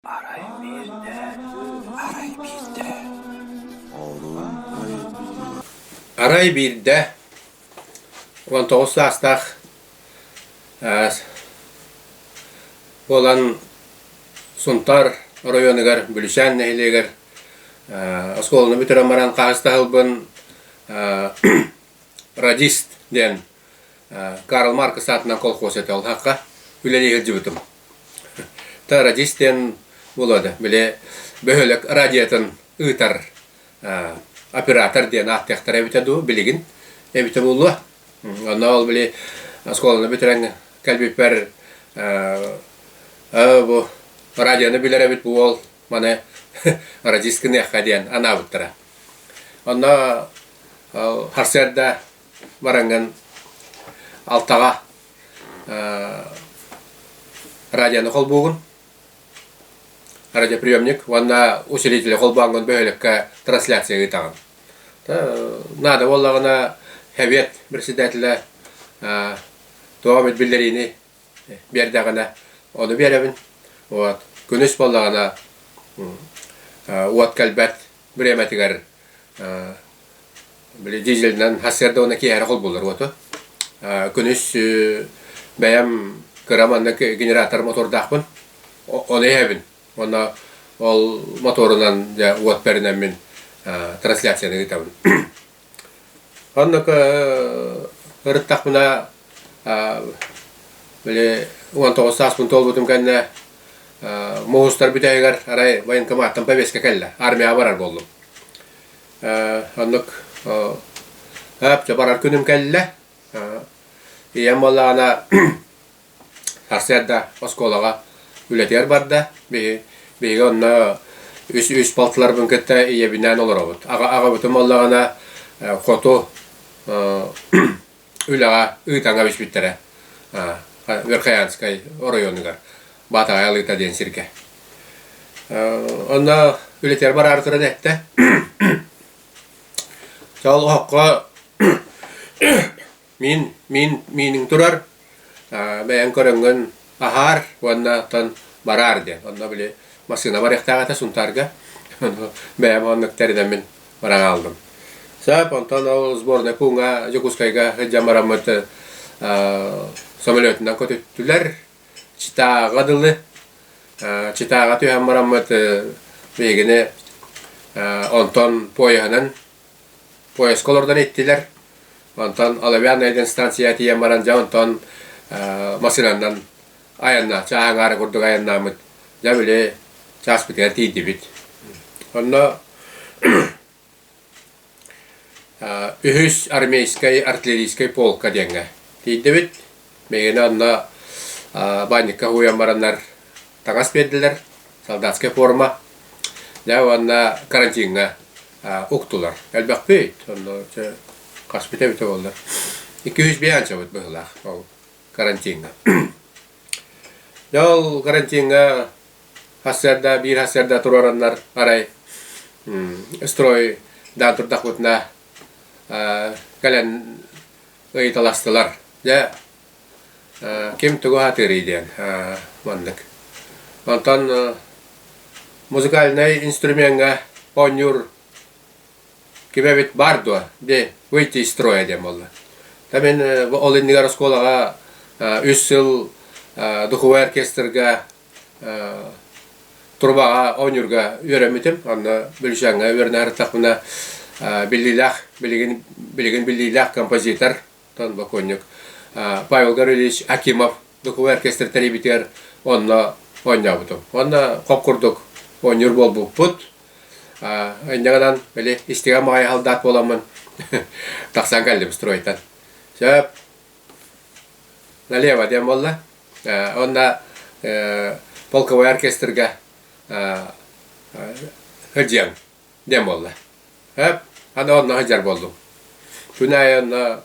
Арай биирдэ, арай биирдэ Арай биирдэ уон тоҕус саастаах э, буолан Сунтаар оройуонугар Бүлүсээн нэһилиэгэр э, оскуоланы бүтэрэн баран хаһыстаһылбын э, радист диэн Карл Маркс аатынан колхоз этэ олхахха үлэлии сылдьыбытым. Та радист диэн буолуода, били бөһүөлэк радиотын ыытар оператор диэн ааттыахтара эбитэ дуу, билигин эбитэ буолуо. Онно ол били оскуоланы бүтэрэн кэлбиппэр бу радиону билэр эбит бу уол маны радист гыныахха диэн анаабыттара. Онно харсыарда бараҥҥын алтаҕа радиону холбуугун радиоприемник уонна усилитель холбооҥҥун бөһүөлэккэ трансляция ыытаҕын наада буоллаҕына совет председателэ тоҕо эмит биллэриини биэрдэҕинэ ону биэрэбин вот күнүс буоллаҕына уот кэлбэт Бремэтигэр били дизельнэн хас эрдэ уонна киэһэрэ холбууллар уоту. Күнүс бэйэм кыра манна генератор мотордаахпын. Оны иһэбин. Уонна ол моторунан дьэ уот пэринэммин трансляцияны ыытабын. Онно ырыттахпына били уон тоҕус сааспын туолбутум кэннэ муус-тар бүтэһигэр арай военкоматтан повестка кэллэ, армияҕа барар буоллум. Оннук өөп дьэ барар күнүм кэллэ ийэм буоллаҕына Сарсыарда оскуолаҕа үлэтигэр барда. Биһи биһиги онно үс үс балтыларбын кытта ийэбинээн олоробут. Аҕа аҕабытым буоллаҕына хоту үлэҕэ ыытаҥҥа биспиттэрэ Верхоянскай оройуонугар Баатаҕай Алыыта диэн сиргэ. Онно үлэтигэр бараары туран эттэ Чаҕыл оһоххо Мин, мин, мииниҥ турар, бэйэҥ көрөҥҥүн аһаар уонна оттон бараар диэн. Онно били массыына барыахтаах этэ Сунтаарга. Бэйэм оннук тэринэммин баран хааллым. Сөп, онтон ол сборной пууҥа Дьокуускайга сылдьан бараммыт самолетунан көтүттүлэр. Читааҕа дылы. Читааҕа түһэн бараммыт биһигини онтон поеһынан поезка олордон иттилэр. Онтон Оловянная диэн станцияҕа тиийэн баран дьэ онтон массыынанан айаннааччы ааҥаары курдук айаннааммыт. Дьэ били чааспытыгар тиийдибит. Онно үһүс армейскай артиллерийскай полка диэҥҥэ тиийдибит. Бэйэни онно баанньыкка уһуйан бараннар таҥас биэрдилэр, солдатская форма. Дьэ уонна карантиҥҥа уктулар. Элбэхпит, онно хаспыта эбитэ буоллар. Икки-үс биэ анчабыт быһылаах ол карантиҥҥа. Дьэ ол карантиҥҥа хасыарда, биир хасыарда туруораннар арай строй даан турдахпытына кэлэн ыйыталастылар. Дьэ, ким тугу аһатыарый диэн маннык. Онтон музыкальнай инструмеҥҥа оонньуур ким эбит баар дуо? Дии, выйти из строя диэн буолла. Та мин ол иннигэр оскуолаҕа үс сыл духовой оркестрга трубаҕа оонньуурга үөрэммитим онно бөлүсээҥҥэ үөрэнээриттахпына биллиилээх билигин билигин биллиилээх композитор оттон бокуонньук Павел Гаврильевич Акимов духовой оркестр тэрийбитигэр онно оонньообутум онно хоп курдук оонньуур буолбуппут инньэ били истиҥэ маҕайы халдаат буоламмын тахсан кэллим стройтан сөп налево диэн буолла уонна полковой оркестрга сылдьыаҥ диэн буолла аны онно сылдьар буоллум күн аайы онно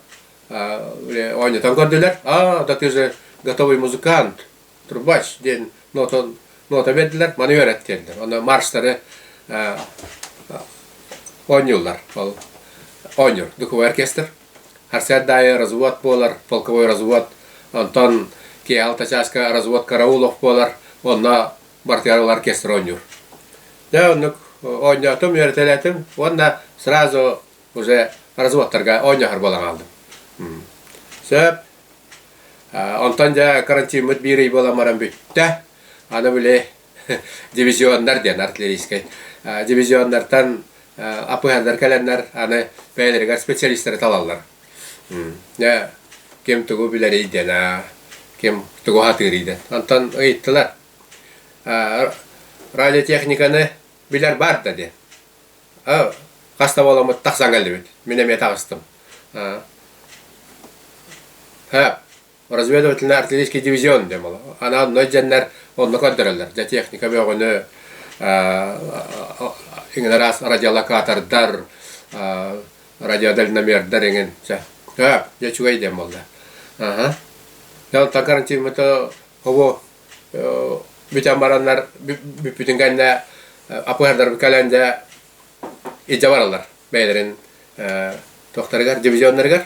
оонньотон көрдүлэр а да ты же готовый музыкант трубач диэн нота биэрдилэр маны үөрэт диэллэр онно марштары оонньууллар ол оонньуур духовой оркестр Харсыат аайы развод буолар, полковой развод, онтон киэһэ алта чааска развод караул ох буолар, онно бартыгар ылар кестер оонньуур. Да, оннук оонньоотум, үөрэтэлээтим уонна сразу уже разводтарга оонньоһор буолан хаалдым. Сөп. Онтон дьэ карантиммыт биир ый буолан баран бүттэ. Аны били дивизионнар диэн артиллерийскай дивизионнартан апыһаннар кэлэннэр аны бэйэлэригэр специалистары талаллар ким тугу билэрий диэн ким тугу сатыырый диэн онтон ыйыттылар радиотехниканы билэр баар да диэн хас да буоламмыт тахсан кэллибит мин эмиэ таҕыстым разведывательнай артиллерийский дивизион диэн буолар. Анаан ной дьэннэр онно көрдөрөллөр. Дьэ техника бөҕөнү иҥнэраас радиолокатордар, радиодальномердар эҥин. Төп, дьэ үчүгэй диэн буолла. Аха. Дьон гарантимата ово бүтэн бараннар бүппүтүн кэннэ АПР-дарбыт кэлэн дэ илдьэ бараллар бэйэлэрин тохтарыгар, дивизионнарыгар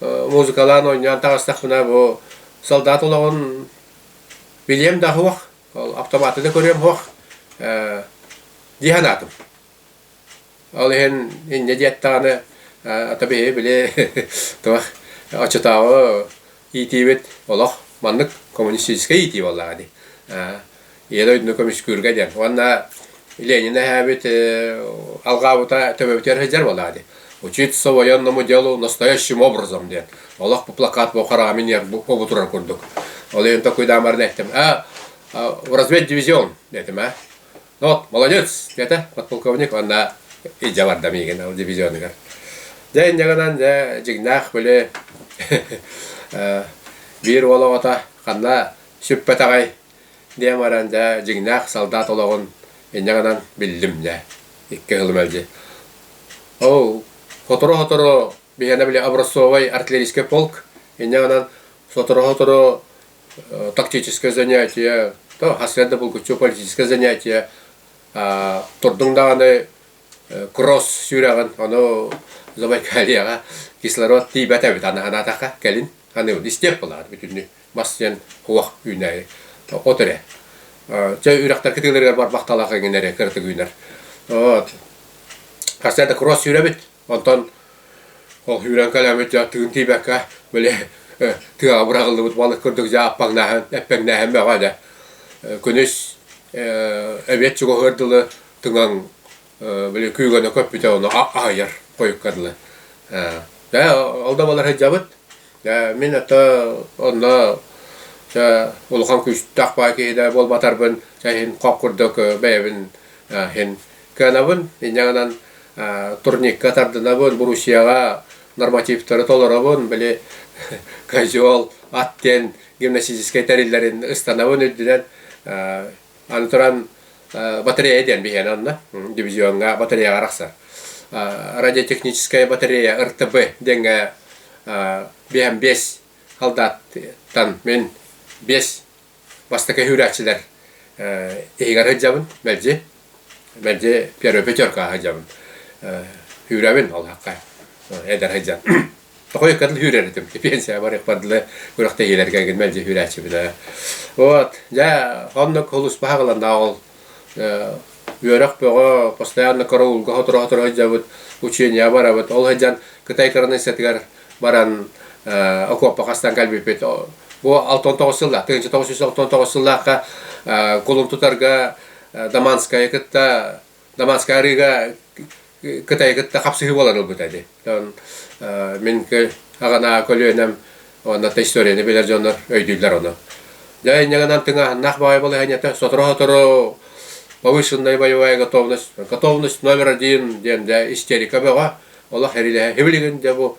музыкалаан оонньоон таҕыстахпына бу солдат олоҕун билиэм да аһыах, ол автоматы да көрүөм аһыах дии санаатым. Ол иһин инньэ диэттэҕинэ ата биһи били туох оччотооҕу иитиибит олох маннык коммунистическай иитии буоллаҕа дии Ийэ дойдуну көмүскүүргэ диэн. Уонна Ленин эһээбит алгаабыта төбөбүтүгэр сылдьар буолаады. Учить своенному делу настоящим образом диэн. Олох bu плакат бу хараҕами ниэр бу турар курдук. Ол иһин такой даамарны эттим. А в разведь дивизион детим, а? Ну вот, молодец, это подполковник уонна идя бардам игин ол дивизионыгар. Дэн ягынан дэ жигнах бөлө биир уол оҕото ханна сүппэтэҕэй диэн баран дьэ дьиҥнээх салдаат олоҕун инньэ гынан биллим дьэ икки ылым мэлдьи ол сотору-сотору биһиэнэ били образцовай артиллерийский полк инньэ гынан сотору-сотору э, тактическое занятие то хас да булгуччу политическое занятие турдуҥ даҕаны э, кросс сүрэҕин ону Забайкальеҕа кислород тиийбэт эбит аны анаатаха кэлин аны истиэх булаат бүтүннү бас диэн куах үүнээри. От эрэ. Чэ, үрэхтэр кытыыларыгар барбахталаах эҥин эрэ кыратык үүнэр. Вот. Хасса да кросс сүүрэбит. Онтон ол сүүрэн кэлэмит дьэ тыын тиибэккэ били тыаҕа быраҕыллыбыт балык курдук дьааппаҥнааһын эппэҥнээһин бөҕө дэ. Күнүс эбиэт чугаһыыр дылы тыҥаҥ били күүгөне көппүтэ ону аһыйар койкадла да алдамалар сыдьабыт да мин ата онно улахан күүстээх баа киһи да буолбатарбын иһин хох курдук бэйэбин иһин кыанабын инньэҕинэн турникка тардынабын Боруссияҕа нормативтары толоробун били козел ат диэн гимнастическай тэриллэрин ыстанабын үрдүнэн Аны туран батарея диэн биһиэнэ онно дивизионҥа батареяҕа арахсар. Радиотехническая батарея РТБ диэҥҥэ биэм биэс халдааттан мин биэс бастакы сүүрээччилэр иһигэр сылдьабын мэлдьи мэлдьи первый пятеркаҕа сылдьабын сүүрэбин олоххо эдэр сылдьан Хойуккатын сүүрэр этим. Пенсия барыахпар дылы күрэхтэһиилэргэ гин мэлдьи сүүрээччибинэ. Вот, дьэ, оннук хулуспаха кыланнаах ол үөрөх бөҕө постоянно караулга хоторо-хоторо сылдьабыт, учения барабыт. Ол сылдьан Кытай коронассатыгар баран окуоппа хастан кэлбиппит. Бу 69 сылда, тыгынча 999 сыллаахха кулум тутарга Даманская кытта Дамаска арыыга кытай кытта хапсыһыы буолан ылбыта ди. Он мин аганаа көлүөнэм уонна та историяны билэр дьоннор өйдүүллэр ону. Дьэ инньэгэнэн тыҥааһыннаах баҕай балаһыанньата сотору-сотору повышенная боевая готовность, готовность номер один диэн да истерика бөҕө, олох эрилэһэ. Хибилигин дэ бу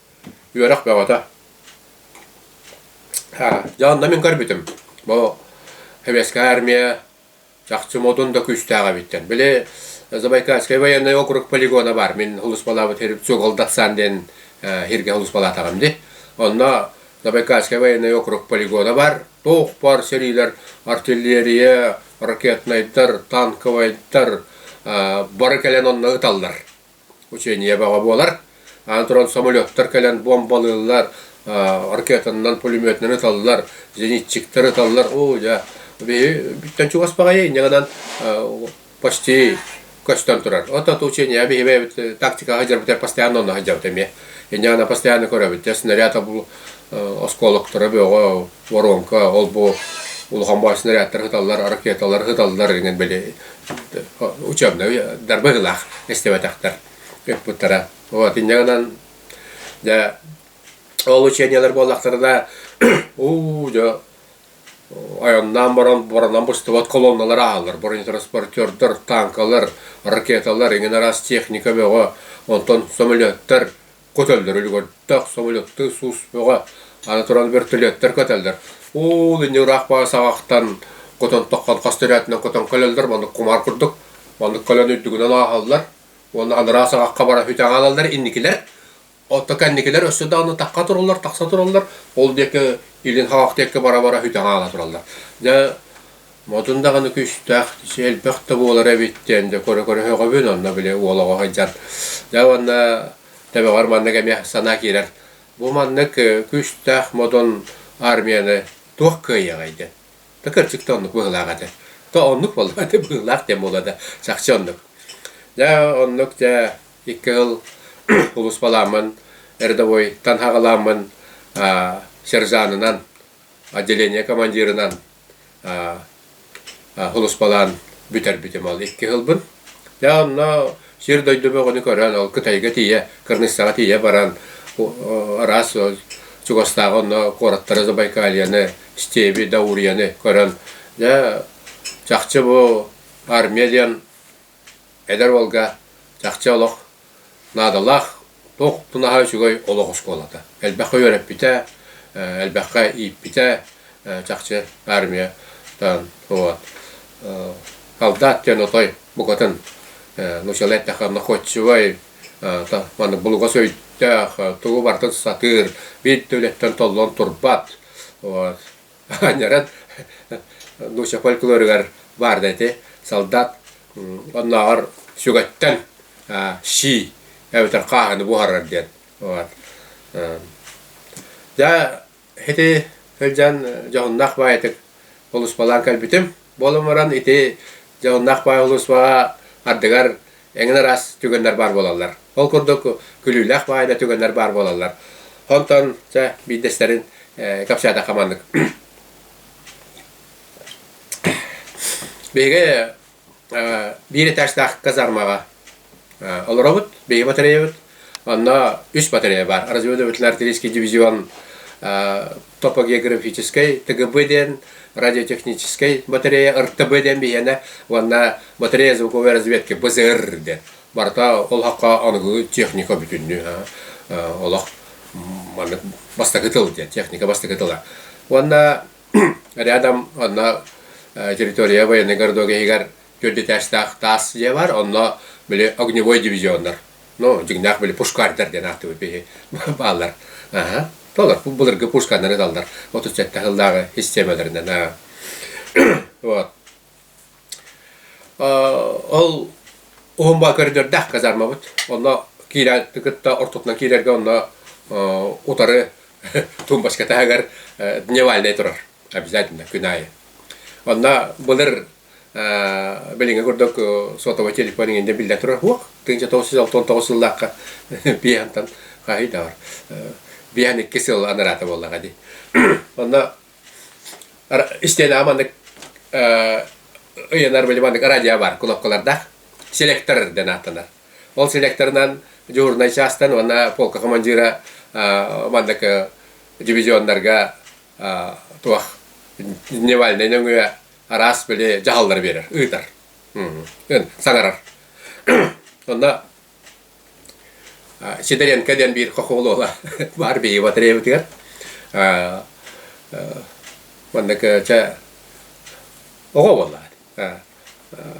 Үөрэх бөҕөтө. Дьэ онно мин көрбүтүм. Бу Советская армия чахчы модун да күүстээх эбиттэр. Били Забайкальский военный округ полигона бар. Мин улууспалаабыт Цугол Даксан диэн хиргэ улууспалаатаҕым дии. Онно Забайкальский военный округ полигона бар. Туохпар сэриилэр артиллерия, ракетнайдар, танковайдар бары кэлэн онно ыталлар. учение баҕа буолар. Аан туран самолеттар кэлэн бомбалыыллар, ракетанан пулеметынан ыталлар, зенитчиктар ыталлар. Оо, дьэ, биһиги чугас баҕайы иннигинэн почти көстөн турар. От-от учение биһиги тактикаҕа сылдьарбытыгар постоянно онно сылдьабыт эмиэ. Иннигинэн постоянно көрөбүт. Снаряд оскуолактара бөҕө, воронка, ол-бу улахан баай снарядтар ыталлар, ракеталар ыталлар, иҥэн били учебнай дарбагылаах истибэтэхтэр ыппыттара. Вот инньэгынан дьэ ол учениелар буоллахтарына уу дьэ айаннаан баран боронон быстыбат колонналар аалар бронетранспортердар танкалар ракеталар иҥин араас техника бөҕө онтон самолеттар көтөллөр үлүгэр тах собулуктуу сус бөҕө аны туран вертолеттар көтөллөр уул инньэ ыраах баҕа саҕахтан көтөн тоххон хас төрөөтүнэн көтөн көлөллөр маннык кумаар курдук маннык көлөн үрдүгүнэн ааһаллар уонна анараа саҕахха баран үтэн хаалаллар инникилэр оттон кэнникилэр өссө даҕаны тахха тураллар тахса тураллар ол диэки илин саҕах диэки бара бара үтэн хаала тураллар дьэ Модун даҕаны күүстээх, элбэх да буолар эбиттэн, дьэ көрө-көрө сөҕөбүн, онно били уол оҕо сылдьар. Дьэ уонна төбөҕөр маннык эмиэ санаа киирэр. Бу маннык күүстээх модун армияны туох кыайыаҕай диэн. Да кырдьык да оннук быһыылаах этэ. Да оннук буоллаҕа да быһыылаах диэн буолла да чахчы оннук. Дьэ оннук дьэ икки сыл улууспаламмын, рядовойтан саҕаламмын, сержанынан, отделение командирынан Холуспалаан бүтэрбитим ол икки сылбын. Дьэ онно сир-дойду бөҕөнү көрөн, ол Кытайга тиийэ, Кыргызстаҕа тиийэ баран, араас чугастааҕы онно куораттары, Забайкальены, Стеби, Даурияны көрөн, дьэ чахчы бу армия диэн Эдэр уолга чахчы олох наадалаах туох тунаһа үчүгэй олох оскуолата. Элбэххэ үөрэппитэ, элбэххэ ииппитэ чахчы армиятан вот Халдаат диэн отой букатын нучалай эттэххэ находчивай маннык булугас өйдөөх тугу барытын сатыыр, биир да үлэттэн толлон турбат вот Аньарат Дуся фольклоругар баарда ити солдат оннооҕор сүгэттэн сии эбэтэр хааһыны буһарар диэн баар. Дьэ ити сылдьан дьоһуннаах баайытык улууспалаан кэлбитим. Буолан баран ити дьоһуннаах баай улууспаҕа ардыгар Эҥин араас түгэннэр баар буолаллар. Ол курдук күлүүлээх баайда түгэннэр баар буолаллар. Онтон чэ биирдэстэрин кэпсээтэх хаманнык. Биһиги биир этажтаах казармаҕа олоробут. Биһиги батареябыт. Онно үс батарея бар. Разведывательный-артиллерийский дивизион топогеографическай ТГБ диэн радиотехническэй батарея РТБ диэн биһиэнэ уонна батарея звуковой разведки БЗР диэн барыта олоххо аныгы техника бүтүннүү олох маннык бастакы тыл диэн техника бастакы тыла уонна рядом онно территория военный городок иһигэр төрдүтээстээх таас дьиэ бар онно били огневой дивизионнар Ну, дьиҥнээх били пушкардар диэн аахтыбыт биһи бааллар. Аһа. Толор былыргы пушканнары даллар 37 сыллааҕы системаларынан вот. Ол уһумба көрдөрдөх казармабыт. Онно киирэ кытта ортотунан киирэргэ онно утары тумбашка таһыгар дневальный турар. Обязательно күн айы. Онно былыр билиҥҥи курдук сотовый телефон иҥин биллэн турар уох тыынча тоҕус сүүс алта уон тоҕус сыллаахха биэһантан хаһыйдаҕар биэһэн икки сыл анараата буоллаҕа дии онно истиэлэҕэ маннык ыйанар били маннык радио бар кнопкалардаах селектор дэн ааттанар ол селекторынан дежурнай чаастан уонна полка командира маннык дивизионнарга туох дневальнай нөҥүө араас били дьаһаллары биэрэр, ыытар. Саҥарар. Онно Сидоренко диэн биир хохуол уола баар биһиги батареябытыгар. Маннык чэ оҕо буолла.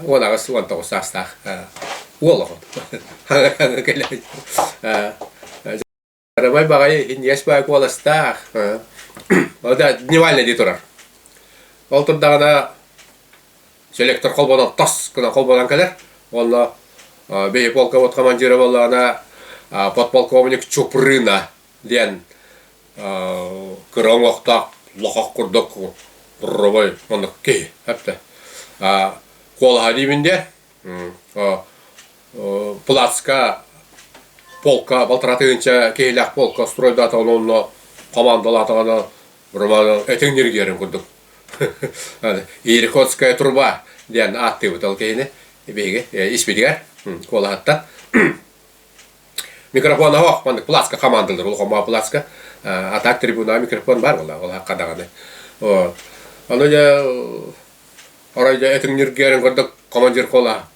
Уон аҕыс, уон тоҕус саастаах уол оҕо. Кэлэн Арабай баҕайы индиэс баай куоластаах. Ол да дневальный дии турар. Ол турдаҕына селектор холбонон тос гынан холбонон кэлэр. Онно бэйэ полковод командира боллаҕына подполковник Чупрына диэн кыра оҥохтоох лохох курдук робой оннук киһи эптэ. куолаһа диибин диэ плацка полка балтараа тыһыынча киһилээх полка стройдаатаҕына онно командалаатаҕына роман этиҥ ньиргиэрин курдук иркутская труба диэн ааттыыбыт ол киһини биһиги испитигэр куолаһаттан микрофон оһох маннык плацка командалар ол хомаа плацка а так трибуна микрофон баар буолла ол хахха даҕаны ону дьэ оройдо этиҥ ньиргиэрин курдук командир куолаһа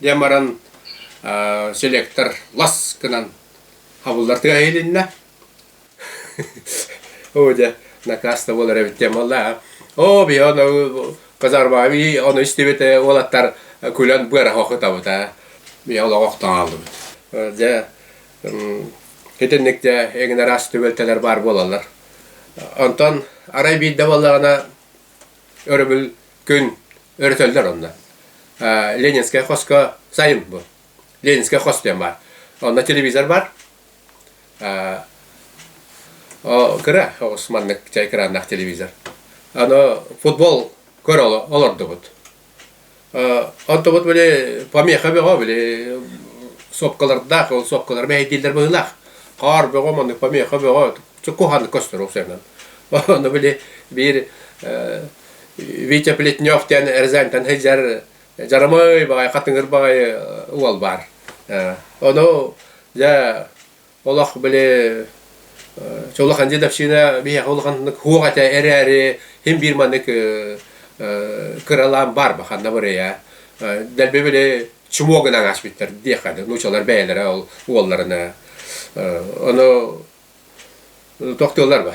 Дьэ баран селектор лас гынан хабыллартыга иһилиннэ. Оо дьэ, накаста болар эбит диэн буолла. Оо, би ону казарма би ону истибите уолаттар күлэн быара хохутабыта. Би олоҕох таалыбыт. Дьэ итинник дьэ эҥин араас түбэлтэлэр баар буолаллар. Онтон арай биирдэ буоллаҕына өрөбүл күн өрөтөллөр онно. Ленинская хоско сайын бу. Ленинская хос диэн бар. Онно телевизор бар. Кыра маннык чай краннаах телевизор. Аны футбол көр олордубут. Оттубут били помеха бөҕө били сопкалардаах, ол сопкалар мэһэйдииллэр быһыылаах. Хаар бөҕө, маннык помеха бөҕө, куһаҕаннык көстөрө сыанан. Ону били биир Витя Плетнев диэн эрзээнтэн сылдьар дьарамай баҕайы, хатыҥыр баҕайы уол баар. Ону дьэ Олох, били, улахан дедовщина биһиэхэ улаханнык хуох этэ эрээри, хим биир маннык кыралаан баарба ханна бырыйа дэлби били чумуо гынан ааспыттар диэххэ нуучалар бэйэлэрэ ол уолларына ону тохтуоллар ба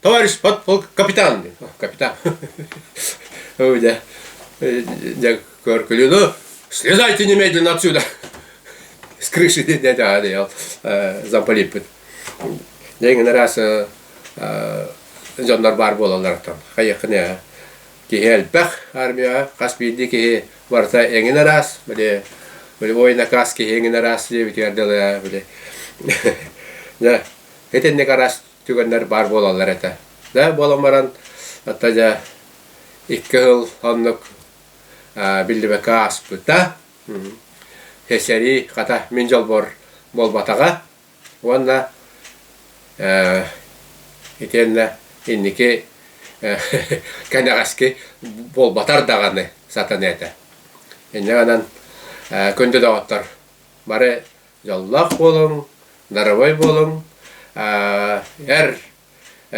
Товарищ подполк капитан. О, капитан. У меня э, я Коркулину. Слезайте немедленно отсюда. С крыши да, да, да, я э, замполиппыт. Дегенер раз э, э, дьоннор баар буолалларыттан. Хайыхыны киһи элбэх армия хас биирди киһи барыта эҥин арас били били ойна кас киһи эҥин арас диэбитигэр дылы били да этенник арас түгэннэр баар буолаллар этэ. Да буолан баран, атта дьэ икки сыл оннук биллибэккэ ааспыта. Хесэрии, хата, мин дьолбор буолбатаҕа уонна итиэннэ инники кэнэҕэски буолбатар даҕаны сатаныа этэ. Инньэ гынан күндү доҕоттор, бары Дьоллоох буолуҥ, дарыбай буолуҥ, эр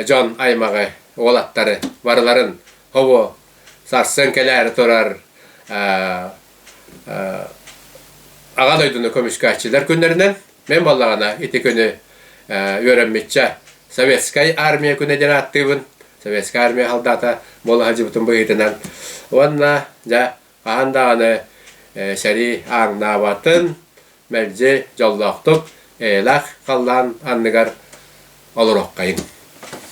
дьон аймаҕы, уолаттары барыларын хобуо сарсын кэлээри турар Аҕа дойдуну көмүскээччилэр күннэринэн мин буоллаҕына ити күнү үөрэммиччэ Советскай Армия күнэ диэн ааттыыбын. Советскай Армия салдаата буола сылдьыбытым быһыытынан уонна дьэ хаһан даҕаны сэрии ааҥнаабатын мэлдьи дьоллоохтук эйэлээх халлаан анныгар олоруоххайыҥ